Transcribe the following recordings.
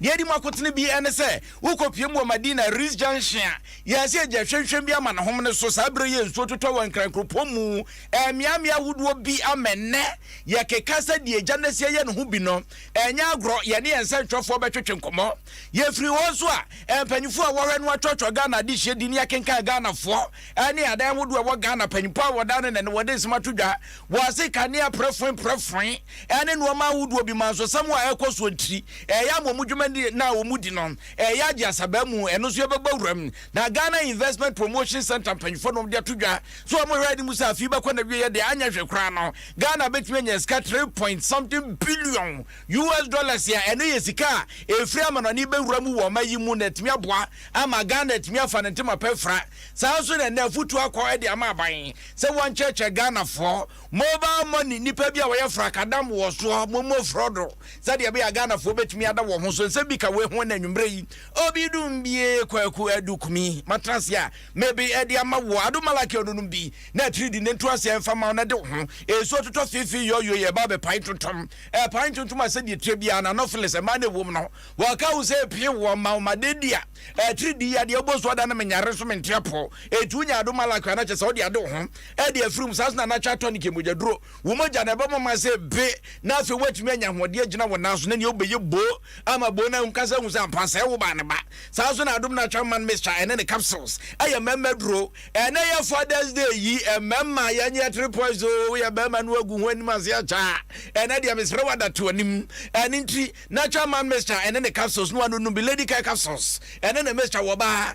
Deɛ ɛdi mu akotene bi ne sɛ, wokɔpiem wɔ Madina Rees Junction a, yɛasi agya hwɛnhwɛn bi ama ne home no so. Saa berɛ yi a nsuo totɔ wɔ Nkran kuropɔn mu mmeammea ahodoɔ bi ama ɛnnɛ yɛkeka sɛ deɛ agya no asi ayɛ no ho bi no, ɛnyɛ agorɔ. Yɛne yɛn nsɛntwerɛfoɔ bɛtwetwe nkɔmmɔ. Yɛfiri hɔ nso a, mpanimfoɔ a wɔhwɛ no atwerɛtwerɛ Ghana adehyeɛ din, yɛkenkan Ghanafoɔ ne adan ahodoɔ a ɛwɔ Ghana, mpanimfoɔ a wɔdane na wɔde nsɛm ato dwa wɔ ase, kanea prɛfoe prɛfoe. ne nnoɔma ahodoɔ bi ma nsɔsɛm a ɛkɔ soɔ ntiri ɛyɛ ama wɔn dwuma di no a wɔn di no ɛyɛ agye asabaa mu ɛno nso yɛbɛbɔ awura mu na Ghana Investment Promotion Centre mpanyinfoɔ nom de ato dwa sɛ wɔn hwɛ anim sɛ afei bɛkɔ na wieɛ deɛ anyɛ hwɛ koraa no Ghana bɛtumi anya sika three point something billion US dollars a ɛno yɛ sika a ɛfiri amanɔne bɛwura mu wɔ ɔma yi mu na atumi aboa ama Ghana atumi afa ne ntoma pɛ fra saa nso na ɛnɛ afotuo akɔ de ama aban sɛ wɔnkyerɛkyerɛ Ghanafoɔ Mobile money nnipa bi a wɔyɛ frakadam wɔ soɔ mommɔ frɔ do sɛdeɛ ɛbɛyɛ a Ghana foɔ bɛtumi ada wɔn ho so nsɛm bi ka wei ho ɛna anwummerɛ yi obi dum bie Kwaku Adu Kumi matena ase a mebe ɛde ama woɔ Ado Malaki ɔno nom bi na atiri di ne nto ase ɛmfa ma wo na de wo ho ɛsuo totɔ feefee yɔyoi ɛba bɛ pae tontom ɛpae tontom a sɛdeɛ ɛtire biara no anopheles mmaa na ɛwom no wɔka wo sɛ ɛpie woɔ mma wo ma de di a atiri di yadeɛ wobɔ so ada no menyare nso mente apɔ ɛtu nya Ado Malaki ana kyɛ sɛ wode ade wo ho ɛde afirim saa na anatwa tonic yɛ mogyaduro wo mogya na ɛbɛma ma sɛ be na afei woatumi anya ahoɔden agyina wo nan so na nea wobɛyɛ boo ama boo no ankasa hu sɛ ampa sɛ wo ba ne ba saa nso na adom no atwa man mixture ɛne ne capsules ɛyɛ mmarima duro ɛnɛ yɛ fathers day yi mmarima yɛnyɛ three points o woyɛ barima no agu ho anim ase akyaa ɛnɛ deɛ mesrɛ wada to anim ɛne nti natural man mixture ɛne ne capsules no anonum bi lady care capsules ɛne ne mixture wɔ baa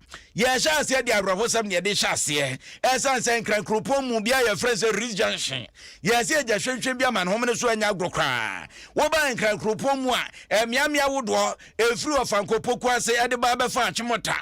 Yɛhyɛɛ aseɛ de awerɛhosɛm na yɛde hyɛ aseɛ ɛsiane sɛ Nkran kuropɔn mu bea a yɛfrɛ sɛ Ritz Junction yɛɛ sɛ yɛgya hwɛnhwɛn bi ama no home no so anyɛ agorɔ koraa. Wobaa Nkran kuropɔn mu a mmeammea ahodoɔ ɛfiri Ɔfankɔ Poku ase de ba bɛfa Achimota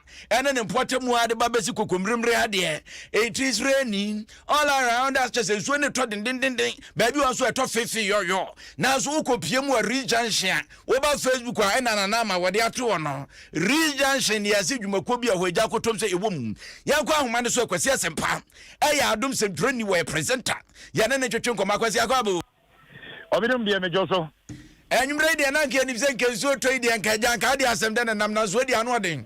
ne ne mpɔtam mu ara de ba bɛsi Kokommeremmere ha deɛ it is raining all around us kyerɛ sɛ nsuo no retɔ dendendenden baabi wɔ nso ɛtɔ feefeeyɔyɔ nanso wokɔpie mu wɔ Ritz Junction a Woba Facebook a ɛna Nana ama wɔde ato hɔ no, Reach Junction de asi dwumakuo bi a ɛhɔ agya akotom sɛ ɛwɔ mu. Yɛnkɔ ahoma no so Akwasi Asɛmpa ɛyɛ adom sɛntwerɛni wɔyɛ presenter yɛne no ntwetwe nkɔmmɔ Akwasi Akwaabo. Ɔbedom deɛ medwo so. Anwummerɛ yi deɛ na anka yɛnim sɛ nka nsuo tɔ yi deɛ nka agya anka adeɛ asɛm dɛn na nam nanso adi ano ɔden.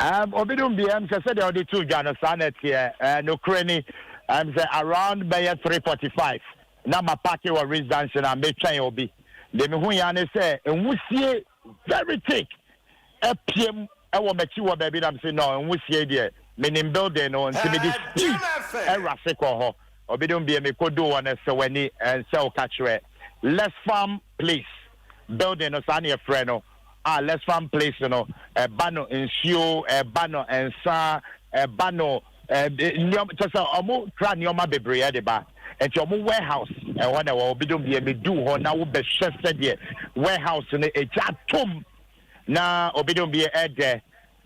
Um, Ɔbedom deɛ ɛm sɛ sɛdeɛ ɔde too dwa no saa na ɛteɛ. Uh, nokorɛ ni ɛm sɛ around bɛyɛ 345 Na ma parke wɔ Ritz junction na me twɛn obi deɛ me hui ara ne sɛ nwusie very thick apiam wɔ m'akyi wɔ baabi na me se no nwusie yi deɛ me nim building no nti me de speed ɛrase kɔ hɔ obi nom bie me kɔ duu hɔ no sɛ w'ani ɛnsɛ wo ka kyerɛ Less Farm Place building no saa ne yɛfrɛ no a Less Farm Place no ɛba no nsuo ɛba no nsa ɛba no nneɛma kyɛ sɛ ɔmo kura nneɛma bebree de ba nti ɔmo warehouse ɛhɔ na ɛwɔ obi dom deɛ medu hɔ na wobɛhwɛ sɛdeɛ warehouse no egya tom na obi dom deɛ ɛdɛ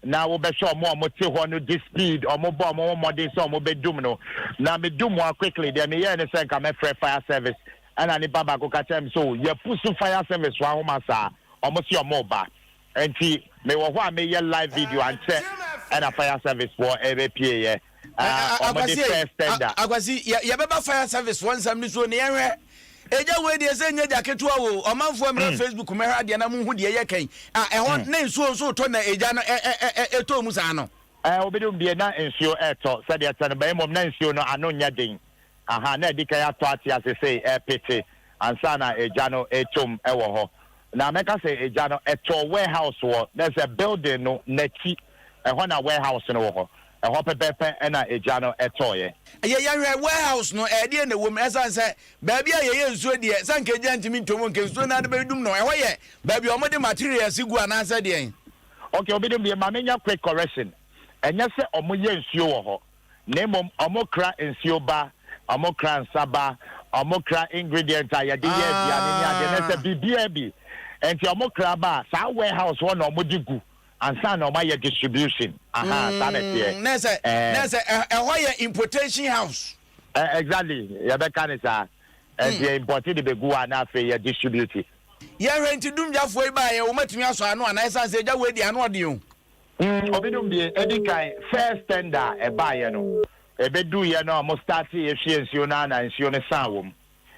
na wobɛhwɛ ɔmo a ɔmo te hɔ no de speed ɔmo bɔ ɔmo ho mmɔden sɛ ɔmo bɛdum no na medum mu a quickly deɛ meyɛɛ ne sɛ nka mɛfrɛ fire service ɛna nipa baako ka kyerɛ me so yɛpusu fire service wɔ ahoma saa ɔmo si ɔmo ba Nti me wɔ hɔ a me yɛ live video ankyɛ ɛna fire service foɔ ɛbɛ pie yɛ ah ɔmo de first tender. Akwasi yɛ bɛ ba fire service foɔ nsɛm no so ne yɛn hwɛ ɛgya wei deɛ sɛ nyɛ gya ketewa o ɔmanfoɔ mmrɛ facebook mɛhwɛ adeɛ na mo hu deɛ yɛ kɛn ah ɛhɔ ne nsuo nso retɔ na ɛgya no ɛtɔ mu saa no. Ɛɛ obi de mu bie na nsuo ɛtɔ sɛdeɛ ɛtɛ no bɛn mmom na nsuo no ano nyɛ den Ahaa, na adi kan atɔ ate ase sei ɛrepete ansa na egya no retom wɔ hɔ. Na mɛka sɛ egya no ɛtɔɔ warehouse wɔ, na sɛ building no n'akyi, ɛhɔ na warehouse no wɔ hɔ. Ɛhɔ pɛpɛɛpɛ na egya no tɔeɛ. Yɛ yɛhwɛ warehouse no, ɛdeɛn na ɛwɔ mu? Ɛsiane sɛ baabi a yɛyɛ nsuo deɛ, sɛ anka egya ntumi ntɔ mu, anka nsuo no ara de bɛdum no. Ɛhɔ yɛ baabi a wɔde materials gu anaasɛ deɛn? Okay, obinom deɛ, ma menyɛ quick correction, ɛnyɛ sɛ wɔyɛ nsuo wɔ hɔ. na mmom wɔkra nsuo ba, wɔkra nsa ba, wɔkra ingredient a yɛde yɛ aduane ne adeɛ na sɛ biribiara bi nti wɔkra ba a, saa warehouse hɔ na wɔde gu ansa na wɔayɛ distribution. Aha, saa na ɛteɛ. Mm, na sɛ, eh, na sɛ eh, ɛhɔ yɛ importation house. Eh, exactly, yɛbɛka ne saa. Ɛnti mm. yɛ import de bɛgu hɔ a na afei yɛ distribute. Yɛhwɛ nti dumgyafoɔ yi baayɛ wɔmatumi asɔ ano anaa ɛsiane sɛ agya wei deɛ ano ɔden o. Mm ɔbedum deɛ edi kan first tender a ɛbaeɛ no ɛbeduuiɛ no ɔmo starteeɛ hwie nsuo no ara na nsuo no saa wɔm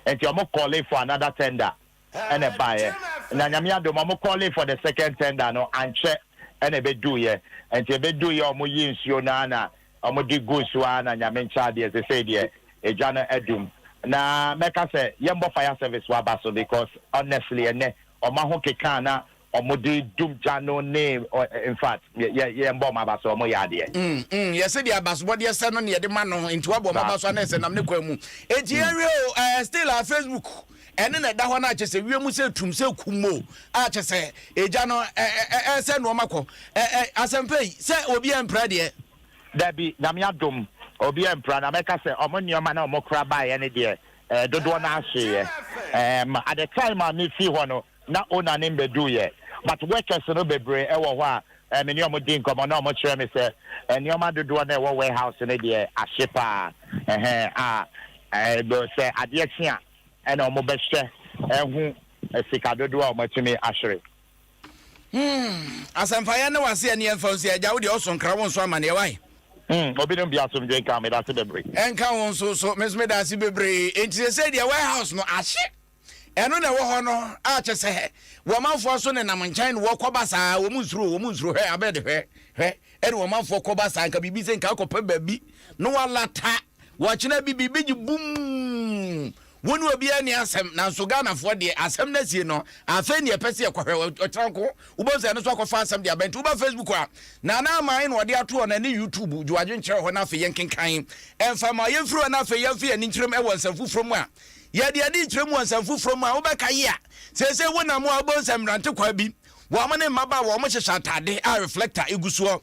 nti ɔmo called for another tender ɛna ɛbaeɛ na Nyame adom ɔmo called for the second tender no ankyɛ ɛna ɛbeduuiɛ nti ɛbeduuiɛ a ɔmo yii nsuo no ara na ɔmo de guu so ara na Nyame nkyɛ adeɛ sesei deɛ egya no adum na mɛka sɛ yɛnbɔ fire service waba so because honestly ɛnɛ ɔma ho kekaa na Ɔmo de dum gya no ne ɔ infact yɛ yɛ yɛn bɔ ɔmo abaso ɔmo yɛ adeɛ. Mm mm yɛ sɛdeɛ abasobɔdeɛ sɛ no na yɛde ma no nti wabɔ ɔmo Saa. abaso anaa sɛ nam ne kwan mu enti yɛn hwɛ o ɛɛ still a facebook ɛne na ɛda hɔ no a kyɛ sɛ wiem sɛ tum sɛ kum o a kyɛ sɛ egya no ɛ ɛ ɛ ɛɛsɛ nnoɔma kɔ ɛ ɛ asɛmpa yi sɛ obi ɛmpra deɛ. Dabi Nyame adom obi ɛmpra na mɛka sɛ ɔmo nnoɔma na ɔmo kora baeɛ no deɛ ɛɛ dodoɔ no ara hyeeɛ ɛɛm at the time a me fii hɔ no na Onanim bɛduuiɛ. But workers no bebree wɔ hɔ a me ne wɔn di nkɔmmɔ na wɔkyerɛ me sɛ nneɛma dodoɔ no a ɛwɔ warehouse no deɛ ahye pa ara ɛhɛn a ɛɛ sɛ adeɛ kye a ɛna wɔbɛhwɛ ahu sika dodoɔ a wɔatumi ahwere. Hmm, asɛmpa yɛn ne wo ase ɛne yɛmfa nsi agya wo deɛ ɔso nkra wo nso amaneɛ wae. Hmm, obinom deɛ asomdwe nka wo meda ase bebree. Ɛnka wo nso so, me nso meda ase bebree. Enti sɛ sɛ deɛ warehouse no ahye. Ɛno na ɛwɔ hɔ no a kyɛ sɛ wɔn manfoɔ nso nenam nkyɛn ne wɔn kɔ basaa, wɔn nsuro, wɔn nsuro, hwɛ, Abed, hwɛ, hwɛ, ɛne wɔn manfoɔ kɔ basaa, nka biribi sɛ nka akɔpɛ baabi na wɔalata, wɔkyena bi, biribi gye bum, wo ne obiara ni asɛm, nanso Ghanafoɔ deɛ, asɛm no asie no, afei ne yɛpɛ sɛ yɛkɔhwɛ, ɔkyena nko, wobɛhu sɛ ɛno nso akɔfa asɛm de aba, nti woba Facebook a, Nana Aman na ɔde ato hɔ no, ɛne YouTube, gye w'adwene kyerɛ hɔ na afei yɛnkenkan, ɛmfa mma yɛmfiri hɔ na afei yɛmfe yɛn ani nkyerɛm wɔ nsɛm foforɔ mu a, Yɛ deɛ ɛde nkyerɛ mu wɔ nsɛm foforɔ mu a wobɛka yi a, Seesei wonam mu a wobɛhu sɛ mmerante kwaa bi, wɔn ne mmabaawa a wɔhyehyɛ atade a reflector gu soɔ,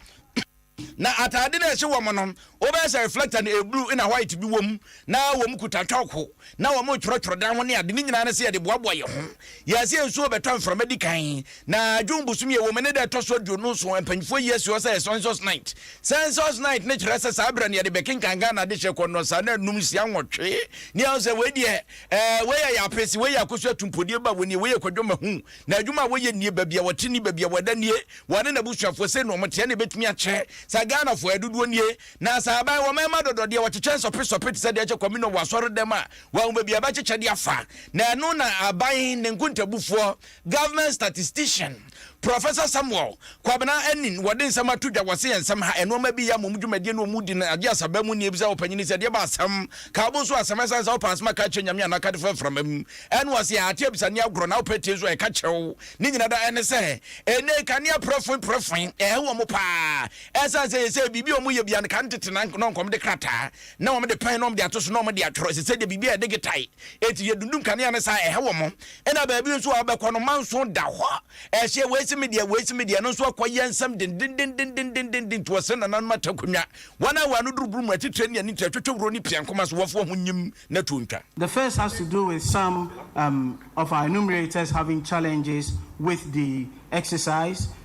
na atade no a ɛhyɛ wɔn no, wobɛyɛ sɛ reflector no ɛblue na white bi wɔ mu, na wɔkuta chalk, na wɔretwerɛtwerɛ dan ho ne ade, ne nyinaa ne sɛ yɛde boaboa yɛn ho. Wiase nsu rebɛtɔ mframa di kan, na June bosome a ɛwɔ mu no da a ɛtɔ so aduonu nson. Mpanyimfoɔ yi asi hɔ sɛ Census Night. Census Night no kyerɛ sɛ saa berɛ no yɛde bɛkenkan Ghana adehyeɛ kɔ nnɔnsa na anum, nsia, nwɔtwe. Ne yɛahu sɛ wei deɛ, eh, wei yɛ yɛ apese, wei yɛ akosu atumpodeɛ ba wɔ nie, wei yɛ kwadwo mahu. Na adwuma a wɔyɛ nie, baabi a wɔte nie, baabi a wɔda nie, wɔne n'abusuafoɔ, sei na wɔteɛ na ɛbɛtumi akyɛ sɛ Ghanafoɔ, yɛn dodoɔ nie. Na sɛ aban, wɔmma ɛmma dɔdɔdeɛ, wɔkyekyɛ nsɔpe sɔpe te sɛ deɛ ɛkyɛ communion wɔ asɔredɛm a Wɔahu baabi a ɛbɛkyekyɛ de afa, na ɛno na aban ne nkontabufoɔ, government statistician, Professor Samuel Kwabena Anin, wɔde nsɛm ato dwa. Wɔse nsɛm ha nnoɔma bi yɛ ama wɔn dwumadie ne wɔn di no agye asaba mu nni. Ebisa ɔpanyin no sɛ, Deɛ ba asɛm ka wo bo nso asɛm, ɛsane sɛ wopɛ asɛm a ka kyerɛ Nyame anaa ka de fa mframa mu? Ɛna ɔse, Aah, te abisa ne agorɔ na wopɛ tie nso a ɛka kyerɛ wo. Ne nyina da ɛne sɛ, ɛnɛ yi kanea prɛfoe prɛfoe, ɛha wɔn paa. Ɛsane sɛ yɛsɛ biribi a wɔyɛ biara no ka no tete na nkɔmde krataa. na wɔde pan na wɔde ato so na wɔde atwerɛ ɛsɛ sɛ deɛ biribi a ɛde getae eti yɛ dundum kanea no saa ɛha wɔn ɛna baabi nso a wɔbɛkɔ no manso da hɔ ɛhyɛ wei si mi deɛ wei si mi deɛ no nso akɔ yɛ nsɛm dendendendendendenden to ɔsɛ nananom atakonwa wɔn a wɔn ano duruburu mu atitire ne ani to atwitwe wuro ne pia nkoma so wɔfoɔ ho nyim na tuo ntwa. The first has to do with some um, of our enumerators having challenges with the exercise.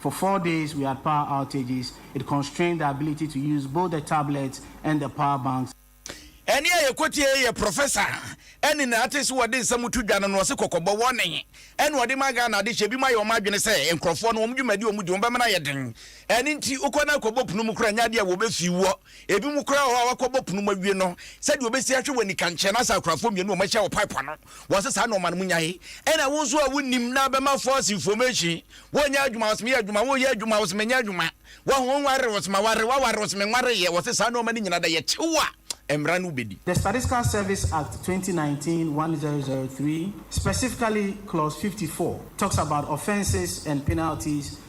For four days we had power outages, it constrained the ability to use both the tablets and the power banks. Ɛnne a yɛkɔtiee yɛ Prɔfɛsa Annie Nartey so wɔde nsɛm to dwa no na ɔse kɔkɔbɔ, warning, ɛna ɔde ma Ghana adehyeɛ. Binom ayɛ wɔn adwene sɛ nkorɔfoɔ no wɔn dwumadi a wɔdi no wɔbɛma no ayɛ den. Ɛno nti wokɔ na kɔbɔ pono mu koraa ɛnyɛ adeɛ a wɔbɛfi woɔ. Ebinom koraa wɔ hɔ a wɔakɔbɔ punu mu awie no, sɛdeɛ wɔbɛsi ahwɛ wɔ anikankyerɛ no asa akunafoɔ mmienu a wɔahyia wɔ pipe ano. Wɔse saa nnoɔma no monyae. Ɛna wo nso a wonnim na bɛma false information. Wonyɛ adwuma wɔse meyɛ adwuma, woyɛ adwuma wɔse menyɛ adwuma. Wahu wonware wɔse maware, waware wɔse menwareeɛ. Wɔse saa nnoɔma no nyinaa da yɛ kyew a mmara no wobɛdi. The Statistical Service Act 2019, 1003, specifically clause 54, talks about offences and penalties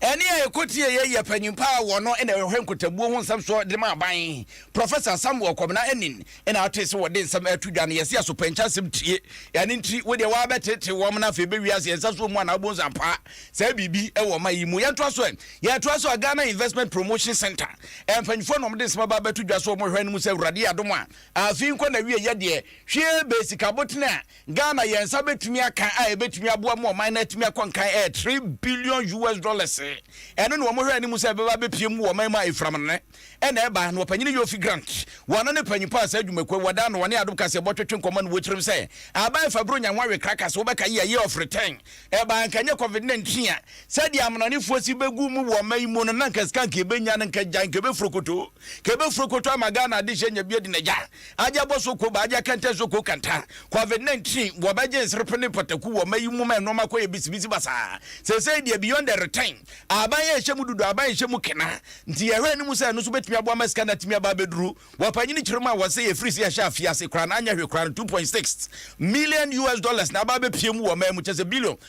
Ɛnne a ɛkɔtiee yei yɛ panyin pa ara a ɔno na ɔhwɛ nkotabuo ho nsɛm soɔ de ma aban, Professor Samuel Kɔbena Anin, na atoe sɛ wɔde nsɛm reto dwa no yɛse asopɛnkye asɛm tie, ɛno nti wodeɛ woabɛteetee wɔn na afei bɛwie ase ɛnsa soɔ mu anaa wobonso ampaa saa biribi wɔ ɔman yi mu. Yɛntoa so ɛ, yɛtoa so a Ghana Investment Promotion Centre mpanyifoɔ na wɔde nsɛm aba abɛto dwa so wɔhwɛ no mu sɛ Awurade yɛ adom a afei nkɔ n'awieɛ deɛ hwee bɛyɛ sika abotene a Ghana yɛn nsa bɛtumi aka a ɛbɛtumi aboa ma ɔman no atumi akɔ nkan yɛ three billion US dollars. Ɛno na wɔn hwɛ anim sɛ ɛbɛba abɛpue mu wɔ ɔman mu a ɛfiram no nnɛ na ɛba no. Ɔpanyini Yofi Grant, wɔn no ne panyinpɔ a saa adwumakuo yi wɔda ano wɔne Adom Kaseɛ bɔ twetwe nkɔmmɔ no wɔ tirim sɛ aba ɛfa aburo nya nwa we krakas wo bɛka yɛ year of return ɛba anka nyɛ covid 19 a sɛdeɛ amanɔnefoɔ si bɛgu mu wɔ ɔman yi mu no na anka sika anka ɛbɛnya no anka gya anka ɛbɛfurokoto anka ɛbɛfurokoto ama Ghana adehyeɛ nya bi adi nagya Agya bɔ so ko ba agya kɛntɛn so ko kɛntɛn. Covid 19 wɔbɛgye nserpe ne pataku wɔ mma yi mu ma nnoɔma kɔyɛ bisibisi basaa. Seesei deɛ beyond the return, ahaban rehyɛ mu dudu, ahaban rehyɛ mu kena. Nti yɛhwɛ anim sɛ ɛno nso bɛtumi aboa ma sika no atumi aba abɛduru wɔ panyini kyerɛ mu a wɔse ɛfiri sɛ yɛhyɛ afiase koraa no anyɛ hwee koraa no 2.6 million US dollars na aba abɛpue mu wɔ mmaa mu kyɛsɛ billion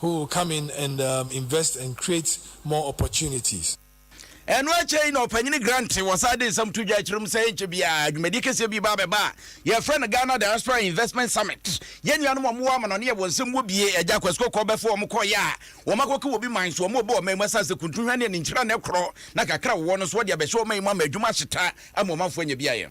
Who will come in and um invest and create more opportunities. Ɛno akyɛ yi na Ɔpanyin Grant wɔ saa de nsɛm to dwa akyiri mu sɛ ɛnkyɛ biara dwumadie kɛseɛ bi ba abɛba a yɛfrɛ no Ghana Diaspora Investment Summit. Yɛn nuanom a wɔwɔ amanɔne a wɔn nsɛm wɔ bie, Agya Kwasi Kɔkɔɔ bɛfa wɔn kɔeɛ a wɔakɔka wɔ obi man so, wɔrebɔ ɔman mu asase kuntu hwane a ne nkyerɛ ano korɔ na kakra a wɔwɔ no nso wɔde abɛhyɛ ɔman mu ama adwuma ahyeta ama ɔmanfoɔ anya beaeɛ.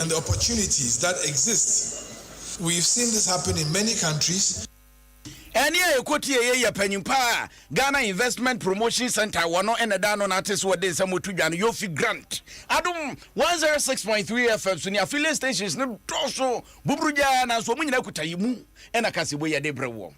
and the opportunities that exist we've seen this happen in many countries. Ɛne a yɛkɔtiee yɛ yɛ panyin pa a Ghana Investment Promotion Centre a wɔno na ɛda ano nate so de nsɛm to dwa no Yofi Grant. Adom 106.3 FM so ne affiliate stations no dɔɔso buburugyaa nanso wɔn nyinaa kuta yɛ mu. Ɛna ka se woyɛ de bere wɔ.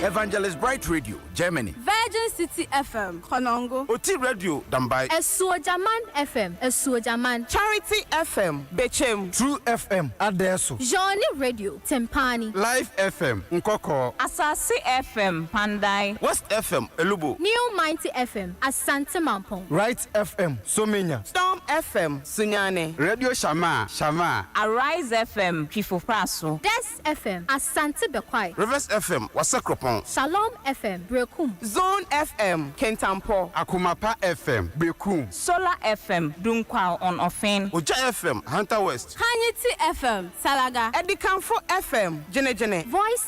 Evangelist Bright Radio, Germany. Virgin City FM, Konongo. Oti Radio, Dambai. Asuogyaman FM, Asuogyaman. Charity FM, Bechem. True FM, Adɛɛso. Johnny Radio, Tempani. Life FM, Nkɔkɔɔ. Asase FM, Pandai. West FM, Elubo. New Mighty FM, Asante Mampong. Right FM, So menya? Storm FM, Sunyani. Radio Shamaa, Shamaa. Arise FM, Twifo-Praso. Des FM, Asante Bekwai. Rivers FM, Wasakropɔn. Shalom FM, Berekum. Zone FM, Kintampɔ. Akoma Pa FM, Berekum. Solar FM, Dunkwal on Ofen. Ogya FM, Hunter West. Hanyiti FM, Salaga. Adikanfo FM, Gyenegyene. Voice.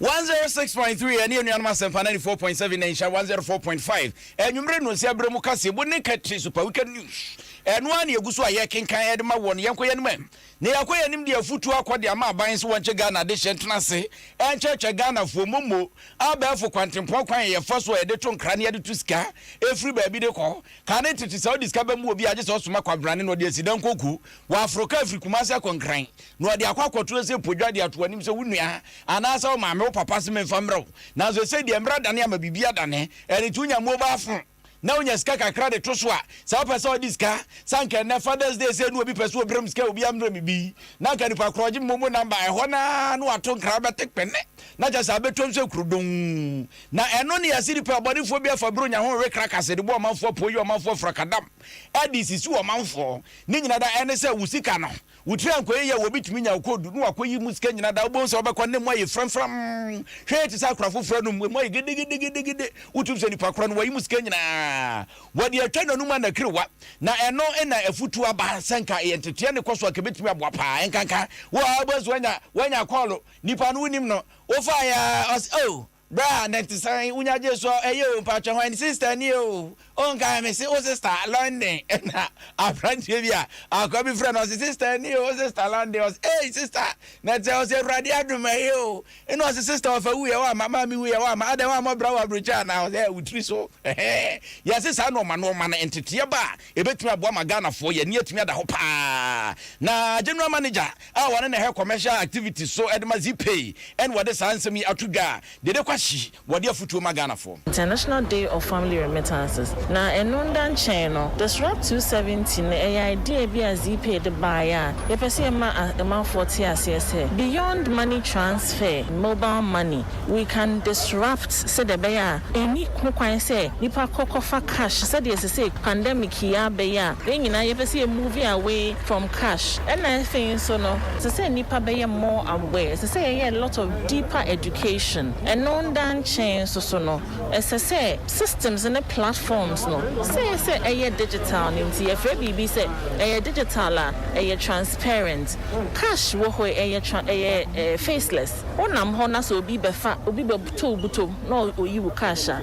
One zero six point three ɛne anuanom asɛmpa ninety four point seven na nhyira one zero four point five anwummere no nsia berɛ mu kaseɛbɔ ne kɛtiri super weekend news ɛno ara na yɛgu so a yɛkenkan ɛde ma wɔn yɛnkɔ yɛn anim na yɛakɔ yɛn anim de afutuo akɔ de ama aban so wɔnkyɛ Ghana adehyeɛ ntena ase ɛnkyɛkyɛ Ghanafoɔ mmommo abɛɛfo kwantempɔn kwan a yɛfa so a yɛde to nkra ne yɛde to sika ɛfiri baabi de kɔ ka ne tete sɛ wode sika bɛmu obi a gye sɛ ɔsoma kwabrane na ɔde asidan kɔku Waforo kaa firi Kumasi akɔ Nkran, na ɔde akɔ akɔto ase apodwa de ato w'anim sɛ wo nua anaasɛ wo maame, wo papa se memfa mmerɛ wo. Nanso ɛsei deɛ mmara dane ama biribi adane. Ɛno nti wonya mobile phone na wonya sika kakra de to so a, sɛ wopɛ sɛ wode sika, sɛ anka ɛnnɛ Father's Day sei na obi pɛ sɛ ɔbrɛ me sika a, obiara mmrɛ me bi, na anka nipa korɔ ɔgye me momo number, ɛhɔ no ara na wato nkra bɛte kpene, na kyerɛ sɛ abɛtwa mu sɛ kuro dong. Na ɛno ne yɛse nipa bɔnefoɔ bi afa buro nya ho rewe krakase de bɔ ɔmanfoɔ poo, yɛ ɔmanfoɔ frakadam. ɛde sisi ɔmanfoɔ. Ne nyina da ɛne sɛ wo sika no wo tiri ankɔ yie a wɔbi tumi nya wo koodu na wakɔ yi mu sika nyina da wobɛhu sɛ wobɛkɔ ne mu ayɛ framfram hwɛɛ te sɛ akora foforɔ nom emu ayɛ gidigidigidi wotum sɛ nipa korɔ no wayi mu sika nyinaa wɔde atwa nanum anakiriwa na ɛno na afutuo aba sɛ nka ɛyɛ nteteɛ ne kɔ so a kɛbɛtumi aboa paa ɛnkanka wo a wobɛhu sɛ wanya wanya kɔɔlo nipa no wonim no wofaeɛ a ɔs oh Bra na te san wo nya gye so ɛ yɛ o mpakyɛ hwan sister ni o o nkae me se wo sister London na abranteɛ bi a akoa bi frɛ no ɔse sister ni o wo sister London ɔse ei sister na te ɔse awurade adom ɛ yɛ o ɛna ɔse sister ɔfa wu yɛ wama maame wu yɛ wama adɛn wama bra wɔ abrokyire anaa ɔse ɛ wo tiri so ɛhɛɛ yɛse saa nɔɔma nɔɔma no nteteɛ ba a Ɛbɛtumi aboa ma Ghanafoɔ yɛn ani atumi ada hɔ pa ara. Na General Manager a ɔne na ɛhwɛ Commercial Activities so de ma Zipay ne wɔde saa nsɛm yi ato dwa a, Dede Kwasi, wɔde afotuo ma Ghanafoɔ. International Day of Family Remittances. Na ɛno nda nkyɛn no, Disrupt 270 no, ɛyɛ idea bi a Zipay de baeɛ a yɛpɛ sɛ yɛma amanfoɔ te aseɛ sɛ, beyond money transfer, mobile money, We can disrupt sɛdeɛ ɛbɛyɛ a ɛnni ho kwan sɛ nnipa kɔ kɔfa cash sɛdeɛ sesei pandemic yi abɛyɛ a yɛn nyinaa yɛpɛ sɛ yɛ move away from cash. Ɛna afei nso no ɛsɛ sɛ nnipa bɛyɛ more aware, ɛsɛ sɛ yɛyɛ a lot of deeper education. Ɛno nda nkyɛn nso so no ɛsɛ sɛ systems ne platforms no sɛ yɛ sɛ ɛyɛ digital no nti yɛfrɛ biribi sɛ ɛyɛ digital a ɛyɛ transparent. Cash wɔ hɔ yi ɛyɛ tra ɛyɛ ɛɛ faceless. Wonam hɔ na sɛ obi bɛfa, obi bɛtɔ wo butom na oyi wo cash a,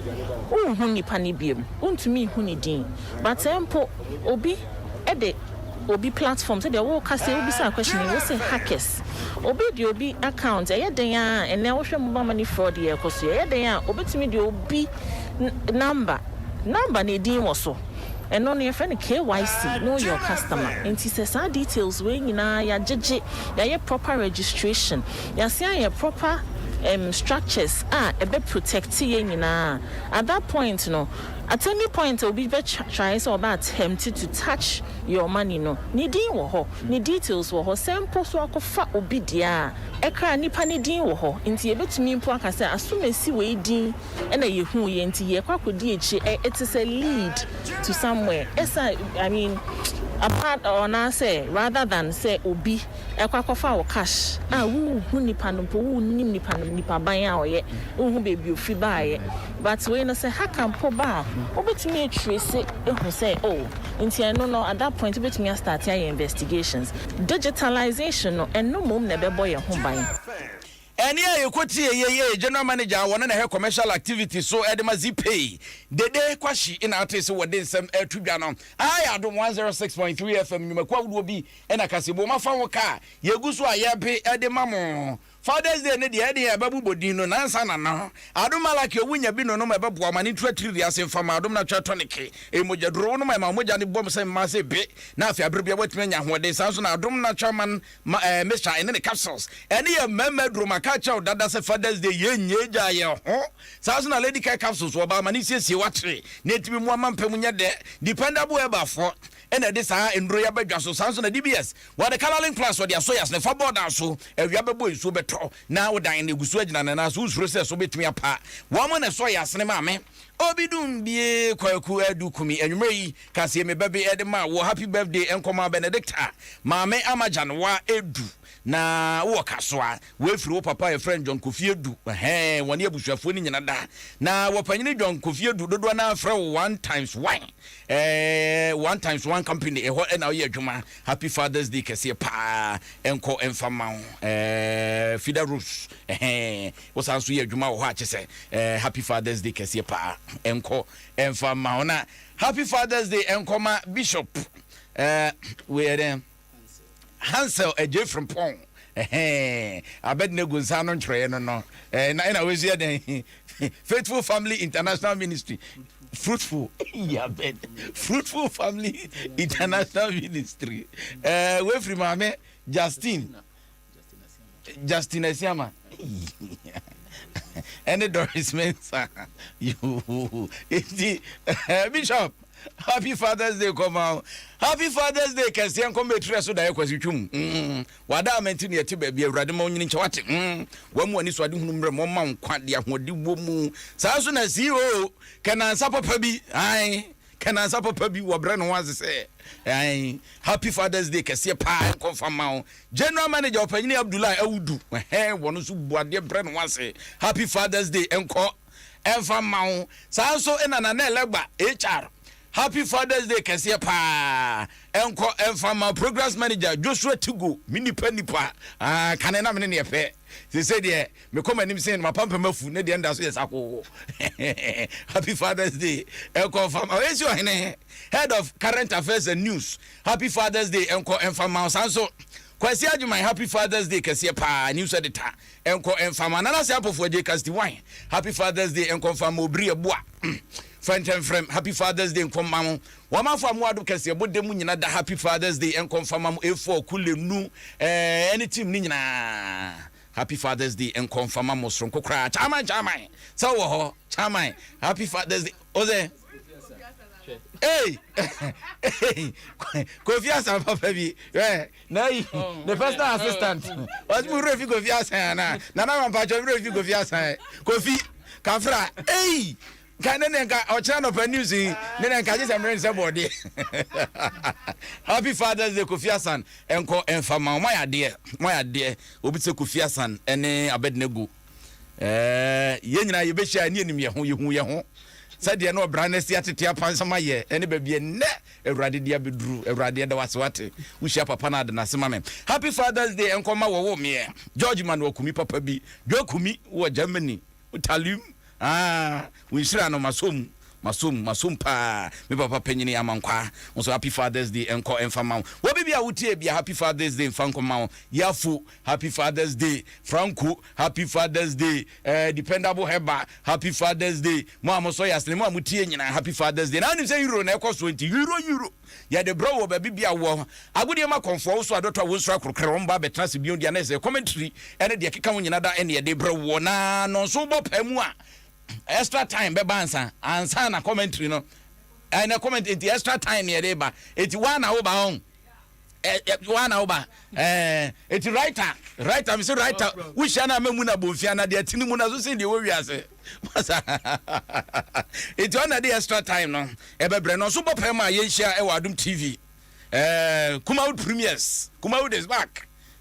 wonhu nnipa no biom, wontumi nhu ne din. But mpo obi de obi platform, sɛdeɛ woka sei, wobisaa question yi, wose hackers. Obi de obi account, ɛyɛ den ara a, ɛnnɛ wohwɛ mobile money fraud yi a ɛkɔ so yi, ɛyɛ den a, obetumi de obi number, number no edin wɔ so, Ɛno no yɛfrɛ no KYC, Know Your Customer. Nti sɛ saa details wei nyinaa yɛagyegye, yɛayɛ proper registration, yɛasan ayɛ proper ɛm structures a ɛbɛ protect yɛn nyinaa a, at that point no, at any point a obi bɛ try sɛ ɔbɛ attempt to touch your money no, ne din wɔ hɔ, ne details wɔ hɔ, sɛ mpo so akɔfa obi deɛ a, ɛkra nipa no din wɔ hɔ. Nti yɛbɛtumi mpo aka sɛ asomasi wei din ɛna yɛhuu yɛ nti yɛkɔ akɔdi akyire ɛ it's is a lead to somewhere ɛsa I mean apart or anaasɛ rather than sɛ obi ɛkɔ akɔfa wo cash a wonhu nipa no mpo wonnim nipa no nipa ban a ɔyɛ wonhu baabi ofi baeɛ but wei no sɛ hacker mpo ba a wobɛtumi atrace ahu sɛ oh nti ɛno no at that point wobɛtumi astarte ayɛ investigations digitalization no ɛno mmom na ɛbɛbɔ yɛn ho ban. Ɛnne a yɛkɔtiee yei yɛ yɛ General Manager a wɔne no hwɛ Commercial Activities so de ma Zipei, Dede Kwahye na atee sɛ wɔde nsɛm reto dwa no. Aha yɛ Adom 106.3 FM nnwumakuo ahodoɔ bi na kaseɛbom afa ho ka a yɛgu so a yɛrebe de ma mo. Father's Day no deɛ ɛdeɛ ɛbɛbobɔ din no nansa na no Adom Malachi Owunya bi nonom ɛbɛboa ma ne ntu atiririe ase mfa ma Adom Natural Tonic ɛyɛ mogyaduro wonom ɛma wo mogya no bom sɛ mmaa sɛ be na afei aberɛ biara woatumi anya ahoɔden saa nso na Adom Natural Man Ma eh Mister ɛne ne capsules ɛne yɛ mmarima aduro ma ka kyɛw dada sɛ fathers day yɛ nyɛ gya yɛ ho saa nso na lady kai capsules wɔ ba ma ne siesie wakyere na ɛtumi moa ma mpɛ mu nyɛ dɛ dependable ɛba foɔ ɛna ɛde saa nduro yɛ aba dwa so saa nso na DBS wɔ de coloring plus wɔde asɔ yas ne fa board a so awia bɛbɔ nsuo bɛtɔ na wo dan na ɛgu so agyina ne nan so wo nsuro sɛ so bɛtumi apa wɔn na ɛsɔ yas ne maame Obi dun bie kwaku adu kumi anwumere yi kaseɛ me bɛbe ɛde ma wo happy birthday nkɔmaa Benedicta maame ama Januwa edu na wowɔ kasoa wei firi wo papa yɛfrɛ no John Kofi Adu ɛhɛɛ wɔne abusuafoɔ no nyina da na wɔpanyini John Kofi Adu dodoɔ naa frɛ wo one times one ɛɛ one times one company ɛhɔ ɛna ɔyɛ adwuma happy father's day kɛseɛ paa ɛnkɔ ɛnfa ma wo ɛɛ Fida Rose ɛhɛɛ Wosan nso yɛ adwuma wɔ hɔ a kyesɛ eh happy father's day kɛseɛ paa ɛnkɔ ɛnfa mma wɔn a happy father's day ɛnkɔ ma bishop eh wei yɛ dɛn Hansel Adjei Frimpong ɛhɛn Abednego nsa ano ntwerɛeɛ no no eh na ɛna wei nso yɛ dɛn Faithful Family International Ministry fruitful yabed fruitful family international ministry eh wei firi maame Justine Justin Asiama ɛne Doris Mensah yoo eti eh, Bishop happy fathers day kɔma o happy fathers day kɛseɛ nkɔm ɛtirɛ so daeɛ kwasi twom mm. wada ama nti ne ɛte baabi awurade ma onyini nkyɛ wate mm. wamu ani so ade hunu mmerɛ ma ɔma nkwa de ahoɔde wɔ mu saa nso na ceo kɛnansa papa bi ae Ka nansa papa bi wɔbrɛ ne ho ase sɛ ɛɛn Happy Father's Day kɛseɛ paa nkɔ mfa mma wo General Manager Ɔpanyini Abdullahi Audu ɛhɛn wɔn nso bu adeɛ brɛ ne ho ase Happy Father's Day nkɔ mfa mma wo Saa nso na Nana Elegba HR Happy Father's Day kɛseɛ paa nkɔ mfa mma Programs Manager Joshua Tigo Me nipa nipa aah kane na me ne neɛ pɛ Seesei deɛ mekɔ m'anim sen no mapampam afu ne deɛ nda so yɛ sakoo Happy Father's Day nkɔ nfa ma Esi Ohene Head of Current Affairs and News Happy Father's Day nkɔ nfa mma wo Saa nso Kwasi Agyemang Happy Father's Day kɛseɛ paa News Editor nkɔ nfa mma Nana Ase Apofoɔ Agye Casti Wine Happy Father's Day nkɔ nfa mma Obiri Abua Fɛntɛmfrɛm Happy Father's Day nkɔ mma wo W'amanfo a moado kɛseɛ bɔ dɛ mu nyina da happy fathers day nkɔ nfa ma mo A4 kule nu eh ne team no nyina happy fathers day nkɔ nfa ma mo soronko koraa Chairman Chairman sɛ wowɔ hɔ Chairman happy fathers day ose ei Kofi Asan papa bi eh na ayi ne personal assistant ɔse mo werɛ fi Kofi Asan anaa Nana Mampatwɔ me werɛ fi Kofi Asan Kofi Kafra ei Nka ɛnɛ ne nka ɔkyerɛ anɔpa news yi ne na nka agye sɛ mmerɛ ne sɛ bɔɔdeɛ happy fathers day kofi asan ɛnkɔ ɛnfa ma ɔma yɛ adeɛ ɔma yɛ adeɛ obi sɛ kofi asan ɛne abɛdene gu ɛɛ yɛn nyinaa yɛbɛhyia ɛne anim yɛ ho yɛhu yɛ ho sɛdeɛ na ɔbra no si atete apansam ayɛ ɛne baabi ɛnnɛ awurade de abɛduru awurade ɛda wase wate wohyia papa no ade no ase ma me happy fathers day ɛnkɔ ma wɔwɔ meɛ george manuel kumi papa bi dwa kumi wɔ germany Talim aa wo nhyira no masɔ mu masɔ mu masɔ mu paa me papa panyini amankwaa nso happy father's day nkɔ mfa ma wo wɔ bibi a wo tie bia happy father's day mfa nkɔ ma wo yafo happy father's day franco happy father's day eh dependable heba happy father's day mo a mo sɔ yasene mo a mo tie nyina happy father's day na wonim sɛ euro na ɛkɔ soɔ nti euro euro Yɛde brɛ wo wɔ baabi biara wɔ. Agodie ma kɔmfoɔ wo so adɔtɔ a wonsuro akorɔkorɛ wɔn ba abɛtena ase bio de anɛsɛ commentary ne deɛ ɛkeka ho nyina da ɛne yɛde brɛ woɔ na nɔnso wobɔ paa mu a extra time bɛba ansa ansa na commentary no ɛnɛ comment enti extra time ne yɛde ba enti woa na woba ɔn Eh eh woa na woba eh eti writer writer mese writer wohyia na memu na bonfia na deɛ ɛte ne mu na so sen deɛ ɛwɔ wiase masa eti ɔna de extra time no ɛbɛbrɛ no nso bɔ pɛ ma yɛnhyia ɛwɔ Adom TV eh Kumawood Premiers Kumawood is back